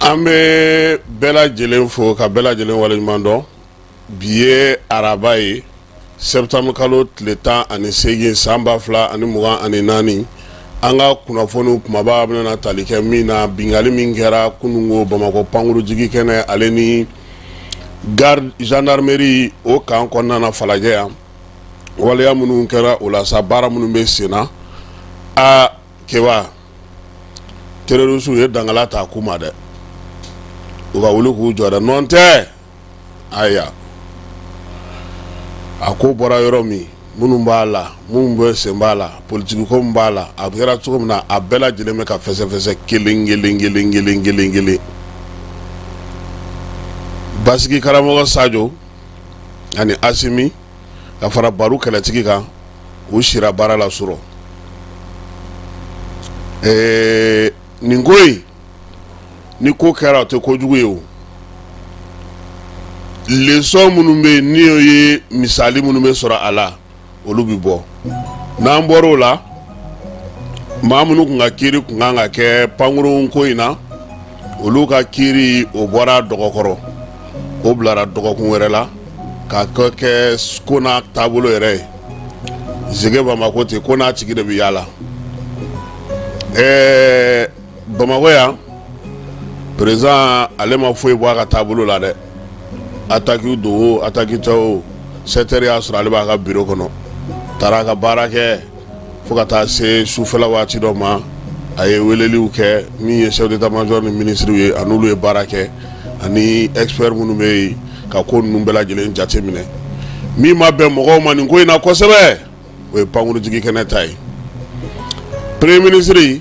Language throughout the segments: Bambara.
an bɛ bɛɛ lajɛlen fo ka bɛɛ lajɛlen waleɲuman dɔn bi ye araba ye sɛtanburukalo tile tan ani seegin san ba fila ani mugan ani naani an ka kunnafoni kumaba bɛna tali kɛ min na binkanni min kɛra kununko bamakɔ pankurunjiginkɛnɛ ale ni gendarmerie o kan kɔnɔna falajɛ yan waleya minnu kɛra o la sa baara minnu bɛ senna a kɛ terorisi ye dankalan ta a ku ma dɛ u ka wuli k'u jɔ dɛ nɔn tɛ ayiwa a ko bɔra yɔrɔ min minnu b'a la minnu bɛ sen b'a la politikiko min b'a la a kɛra cogo min na a bɛɛ lajɛlen bɛ ka fɛsɛfɛsɛ kelen kelen kelen kelen kelen kelen basigi karamɔgɔ sajo ani asimi ka fara baru kɛlɛtigi kan u sira baara la surɔ ɛɛ nin ko in ni ko kɛra o tɛ kojugu ye o lesɔn minnu bɛ yen n'o ye misali minnu bɛ sɔrɔ a la olu bɛ bɔ n'an bɔra o la maa minnu tun ka kiri tun kan ka kɛ pankurun ko in na olu ka kiri o bɔra dɔgɔkɔrɔ o bilara dɔgɔkun wɛrɛ la ka kɛ kɛ ko n'a taabolo yɛrɛ ye zege bamakɔ ten ko n'a tigi de bɛ yaala ɛɛ bamakɔ yan perezidan ale ma foyi bɔ a ka taabolo la dɛ ataki don o ataki tɛ o sɛtɛri y'a sɔrɔ ale b'a ka biro kɔnɔ taara a ka baara kɛ fo ka taa se sufɛla waati dɔ ma a ye weleliw kɛ min ye chef d'état-major ni minisiriw ye ani olu ye baara kɛ ani expert minnu bɛ yen ka ko ninnu bɛɛ lajɛlen jate minɛ min ma bɛn mɔgɔw ma nin ko in na kosɛbɛ o ye pankurunjiginkɛnɛ ta ye premier ministre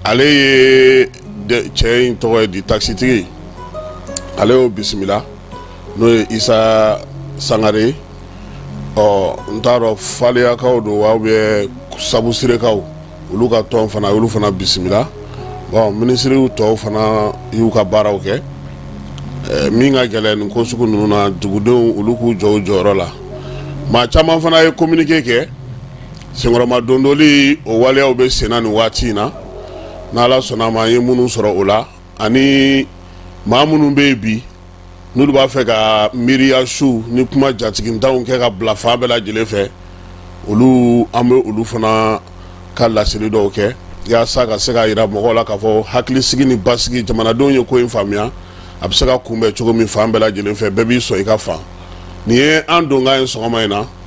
ale ye cɛ in tɔgɔ ye di takisitigi ale y'o bisimila n'o ye isa sangare ɔ n t'a dɔn faleyakaw don wa ou bien sabusirekaw olu ka tɔn fana olu fana bisimila minisiriw tɔw fana y'u ka baaraw kɛ min ka gɛlɛn nin ko sugu ninnu na dugudenw olu k'u jɔ u jɔyɔrɔ la maa caman fana ye kominike kɛ senkɔrɔma dondoli o waleyaw bɛ senna nin waati in na n'ala sɔnna a ma n ye minnu sɔrɔ o la ani maa minnu bɛ yen bi n'olu b'a fɛ ka miiriya su ni kuma jatigitanw kɛ ka bila fan bɛɛ lajɛlen fɛ olu an bɛ olu fana ka laseli dɔw kɛ yaasa ka se k'a yira mɔgɔw la k'a fɔ hakilisigi ni basigi jamanadenw ye ko in faamuya a bɛ se ka kunbɛn cogo min fan bɛɛ lajɛlen fɛ bɛɛ b'i sɔn i ka fan nin ye an donkan ye sɔgɔma in na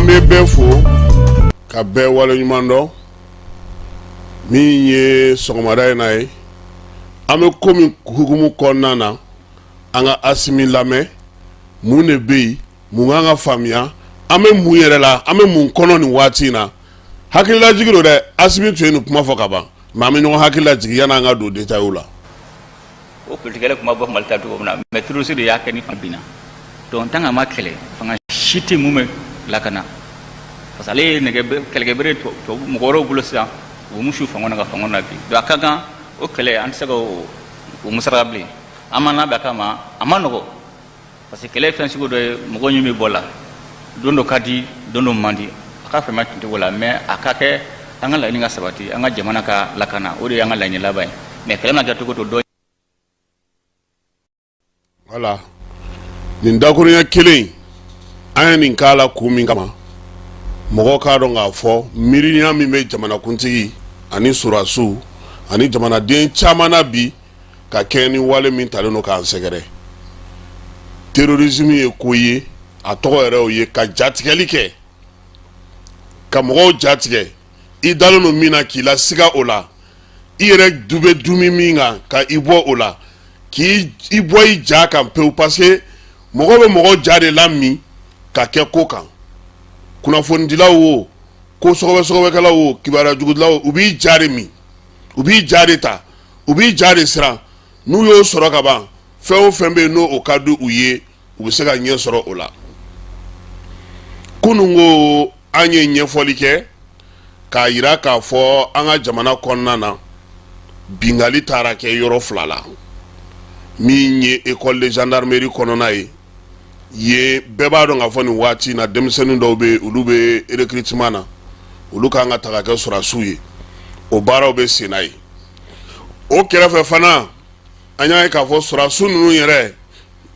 an bɛ bɛ fo ka bɛɛ waleɲumandɔn min ye sɔgɔmada in na ye an bɛ ko min hukumu kɔnɔna na an ka asimi lamɛn mun de bɛ yen mun kan ka faamuya an bɛ mun yɛrɛ la an bɛ mun kɔnɔ nin waati in na hakililajigi don dɛ asimi tun ye nin kuma fɔ ka ban mais an bɛ ɲɔgɔn hakililajigin yanni an ka don détail la o politikɛla kuma bɔ mali ta cogo min na mais terroriste de y'a kɛ ni fanga binna donc tant que a ma kɛlɛ fanga si tɛ mun bɛ lakana parce que ale ye kɛlɛkɛbere mɔgɔ wɛrɛw bolo sisan u b'u su fanga na ka fanga nabin donc a ka kan o kɛlɛ an tɛ se ka o musaka bilen an ma labɛn a kama a ma nɔgɔ parce que kɛlɛ ye fɛn sugu dɔ ye mɔgɔ ɲin bɛ bɔ la don dɔ ka di don dɔ man di a ka fɛn ma tuncogo la mais a ka kɛ an ka laɲini ka sabati an ka jamana ka lakana o de y'an ka laɲini laban ye mais kɛlɛ na kɛ cogo to dɔ voilà nin dakurunya kelen an ye nin k'a la kun min kama mɔgɔ k'a dɔn k'a fɔ miiriya min bɛ jamanakuntigi ani sɔrasiw ani jamanaden caman na bi ka kɛɲɛ ni wale min talen don k'an sɛgɛrɛ terrorisme ye ko ye a tɔgɔ yɛrɛ o ye ka jatigɛli kɛ ka mɔgɔw jatigɛ i dalen don min na k'i lasiga o la i yɛrɛ tun bɛ dumi min kan ka i bɔ o la k'i bɔ i ja kan pewu parce que mɔgɔ bɛ mɔgɔ ja de la min ka kɛ ko kan kunnafonidilaw o ko sɔgɔbɛsɔgɔbɛkɛlaw o kibaruya jugudilaw u b'i ja de min u b'i ja de ta u b'i ja de siran n'u y'o sɔrɔ ka ban fɛn o fɛn bɛ yen n'o ka di u ye u bɛ se ka ɲɛ sɔrɔ o la kununko an ye ɲɛfɔli kɛ k'a yira k'a fɔ an ka jamana kɔnɔna na binkanli taara kɛ yɔrɔ fila la min ye école de gendarmerie kɔnɔna ye yen bɛɛ b'a dɔn k'a fɔ nin waati in na denmisɛnnin dɔw bɛ yen olu bɛ recrutement na olu kan ka ta ka kɛ sɔrasiw ye o baaraw bɛ senna yen o kɛrɛfɛ fana an y'a ye k'a fɔ sɔrasiw ninnu yɛrɛ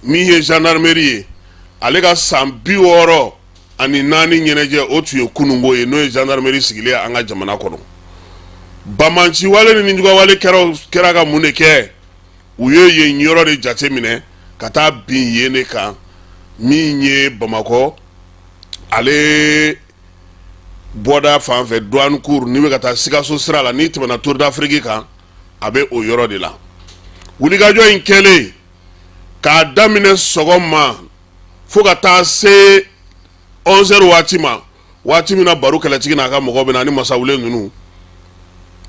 min ye gendarmerie ye ale ka san bi wɔɔrɔ ani naani ɲɛnajɛ o tun ye kununko ye n'o ye gendarmerie sigilen an ka jamana kɔnɔ banbaanciwale ni nijuguyawale kɛra kɛra ka mun de kɛ u ye yen yɔrɔ de jate minɛ ka taa bin yen de kan min ye bamakɔ ale bɔda fan fɛ douane cour n'i bɛ ka taa Sikaso sira la n'i tɛmɛna Tour d'Afrique kan a bɛ o yɔrɔ de la wulikajɔ in kɛlen k'a daminɛ sɔgɔma fo ka taa se 11 heures waati ma waati min na Baru kɛlɛtigi n'a ka mɔgɔw bɛ na ni masawule ninnu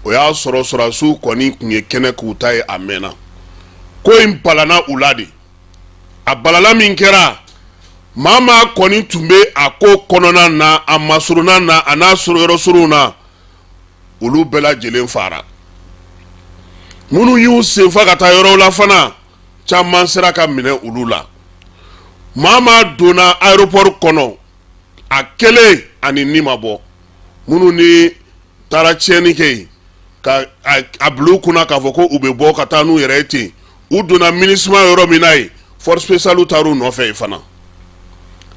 o y'a sɔrɔ sɔrɔdasiw kɔni tun ye kɛnɛ k'u ta ye a mɛnna ko in balanna u la dɛ a balala min kɛra maa maa kɔni tun bɛ a ko kɔnɔna na a masurunna na a n'a sɔrɔ yɔrɔ surunw na olu bɛɛ lajɛlen faara minnu y'u senfa ka taa yɔrɔw la fana caman sera ka minɛ olu la maa maa donna aéroport kɔnɔ a kelen a n'i ni ma bɔ minnu ni taara tiɲɛni kɛ yen ka a bila u kun na k'a fɔ ko u bɛ bɔ ka taa n'u yɛrɛ ye ten u donna MINUSMA yɔrɔ min na yen force spéciale taara u nɔfɛ yen fana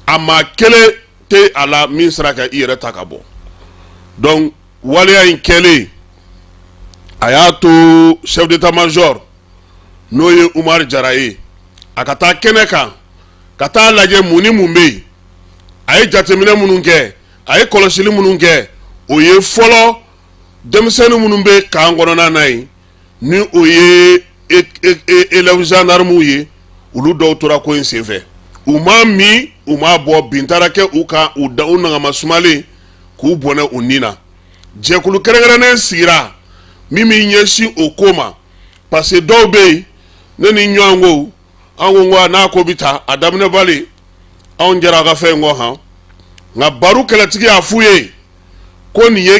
a maa kelen tɛ a la min sera ka i yɛrɛ ta ka bɔ donc waleya in kɛlen a y'a to chef d'état major n'o ye Umar Jara ye a ka taa kɛnɛ kan ka taa a lajɛ mun ni mun bɛ yen a ye jateminɛ minnu kɛ a ye kɔlɔsili minnu kɛ o ye fɔlɔ denmisɛnnin minnu bɛ camp kɔnɔna na yen ni o ye élèves gendarmes ye olu dɔw tora ko in senfɛ u ma min u ma bɔ bin taara kɛ u kan u nagama sumalen k'u bɔnɛ u ni na jɛkulu kɛrɛnkɛrɛnnen sigira min min ɲɛsin o ko ma parce que dɔw bɛ yen ne ni ɲɔgɔn ko an ko ko n'a ko bɛ taa a daminɛ bali anw jɛra a ka fɛn in kɔ han nka baro kɛlɛtigi y'a f'u ye ko nin ye